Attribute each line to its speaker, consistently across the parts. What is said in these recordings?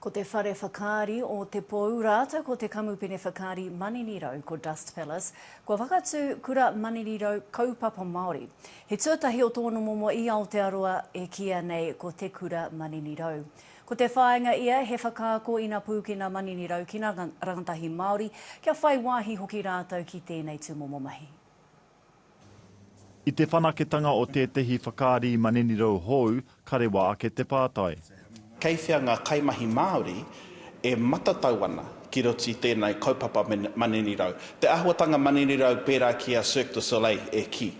Speaker 1: Ko te whare whakaari o Te Pou rātou ko te kamupene whakaari Maninirau ko Dust Palace kua whakatū Kura Maninirau Kaupapa Māori. He tuatahi o tōna momo i Aotearoa e kīia nei ko Te Kura Maninirau. Ko te whāinga ia he whakaako ina pūkena maninirau ki ngā rangatahi Māori kia whai wāhi hoki rātou ki tēnei tūmomo mahi.
Speaker 2: I te whanaketanga o tētehi whakaari maninirau hou, ka rewa ake te pātai. Kei whea ngā
Speaker 3: kaimahi Māori e matatau ana ki roto i tēnei kaupapa maninirau? Te āhuatanga maninirau pērā ki a Cirque du Soleil e kī.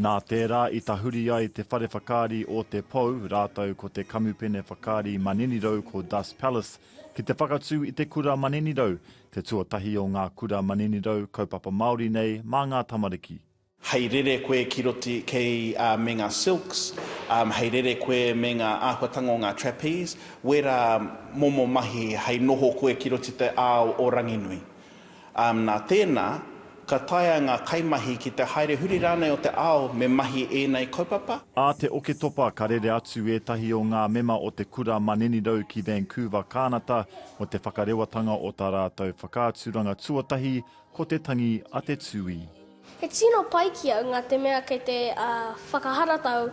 Speaker 3: Nā tērā
Speaker 2: i tahuri ai te whare whakaari o Te Pou rātou ko te kamupene whakaari maninirau ko Das Palace ki te whakatū i te kura maninirau Te tuatahi o ngā kura maninirau kaupapa Māori nei mā ngā tamariki. Hei rere
Speaker 3: koe ki roti kei a me nga silks, um, hei rere koe me nga ahuatanga o nga trapeze, wera momo mahi hei noho koe ki roti te ao o Ranginui. Um, na tena, Ka taea ngā kaimahi ki te haere huri rānei o te ao me mahi ēnei kaupapa? Ā te Oketopa
Speaker 2: ka rere atu ētahi o ngā mema o te Kura Maninirau ki Vancouver, Kānata, mō te whakarewatanga o tā rātou whakaaturanga tuatahi, ko te tangi a te tūī. He tino
Speaker 4: pai ki au ngā te mea kei te whakaharatau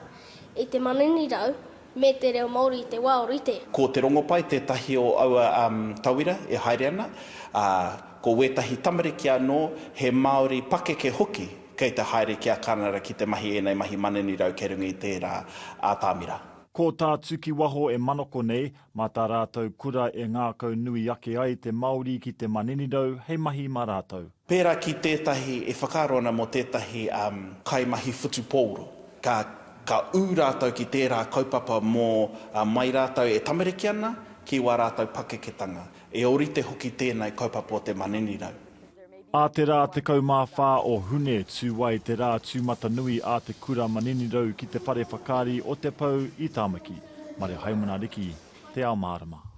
Speaker 4: i te maninirau Me te reo Māori i te wā o rite. Ko Te Rongopai
Speaker 3: tētahi o aua tauira e haere ana, ā, ko wētahi tamariki anō, he Māori pakeke hoki, kei te haere ki a Kānara ki te mahi ēnei mahi maninirau kei runga i tērā ātamira. Ko tā
Speaker 2: Tukiwaho e manako nei, mā tā rātou kura e ngākau nui ake ai te Māori ki te maninirau hei mahi mā rātou. Pērā ki tētahi
Speaker 3: e whakaaro ana mō tētahi kaimahi whutupōro, ka, ka ū rātou ki tērā kaupapa mō mai rātou e tamariki ana ki wā rātou pakeketanga. E ōrite hoki tēnei kaupapa o te maninirau. A te
Speaker 2: rā 14 o Hune tū ai te rā tūmatanui a te kura maninirau ki te whare whakaari o Te Pou i Tāmaki, Marehaimana Riki, Te Ao Mārama.